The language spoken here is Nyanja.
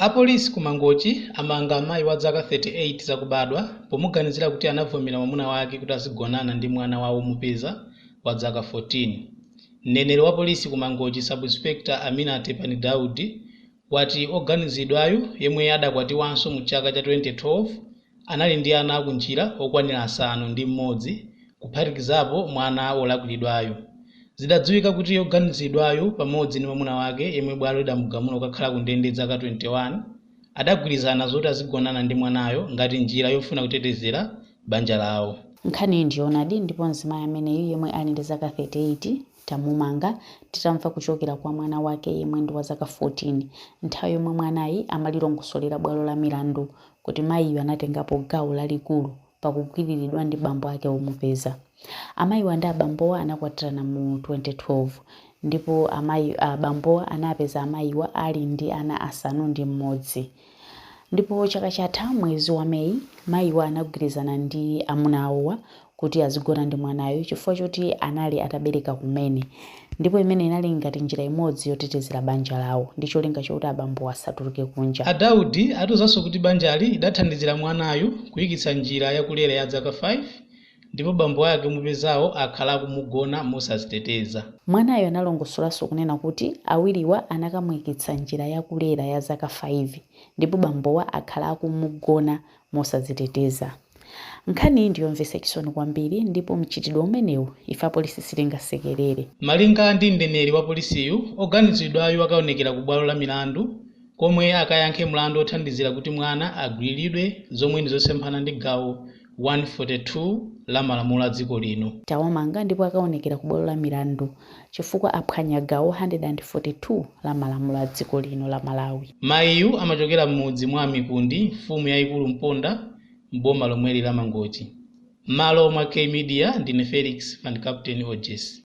A polisi ku Mangochi amanga mayi wa dzaka 38 zakubadwa pomuganizira kuti anavomera mwamuna wake kuti azigonana ndi mwana wa omupeza wa dzaka 14. Mneneri wa polisi ku Mangochi Sub Inspector Amina Tepani Daudi wati oganizidwayu yemwe adakwatiwanso mu chaka cha 2012, Anali ndi ana akunjira okwanira asanu ndi m'modzi kuphatikizapo mwana wolakwiridwayu. Zidadziwika kuti oganizidwayu pamodzi ndi mamuna wake yemwe bwalo lidamugamula kukakhala ku ndende zaka 21, adagwirizana zoti azigonana ndi mwanayo ngati njira yofuna kutetezera banja lawo. Nkhaniyi ndi yoonadi ndipo mzimayi ameneyu yemwe ali ndi zaka 38, tamumanga titamva kuchokera kwa mwana wake yemwe ndi wa zaka 14 nthawi yomwe mwanayi amalilongosolera bwalo la milandu kuti mayiyu anatengapo gawo lalikulu pa kugwiriridwa ndi bambo ake omupeza. Amayiwa ndi abambowa anakwatirana mu 2012 ndipo abambowa anapeza amayiwa ali ndi ana asanu ndi mmodzi. Ndipo chaka chatha mwezi wa May, mayiwa anagwirizana ndi amuna awowa kuti azigona ndi mwanayu chifukwa choti anali atabereka kumene ndipo imene inali ngati njira imodzi yotetezera banja lawo ndi cholinga chokuti abambowa asatuluke kunja. A Daudi atiuzanso kuti banjali idathandizira mwanayu kuyikitsa njira ya kulera ya zaka 5 ndipo bambo ake omupezawo akhala akumugona mosaziteteza. Mwanayu analongosolanso kunena kuti awiriwa anakamuikitsa njira ya kulera ya zaka 5 ndipo bambowa akhala akumugona mosadziteteza. Nkhaniyi ndi yomvetsa chisoni kwambiri ndipo mchitidwe umenewu ife apolisi sitingasekelere. Malinga ndi mneneri wa polisiyu, oganizidwayu akaonekera ku bwalo la milandu komwe akayankhe mlandu othandizira kuti mwana agwiriridwe zomwe ndi zosemphana ndi gawo 142 la malamulo a dziko lino. Tawamanga ndipo akaonekera ku bwalo la milandu chifukwa aphwanya gawo 142 la malamulo a dziko lino la Malawi. Mayiyu amachokera m'mudzi mwa a Mikundi, mfumu yaikulu Mponda m'boma lomweli la Mangochi. M'malo mwa K Media, ndine Felix Van Captain Ojes.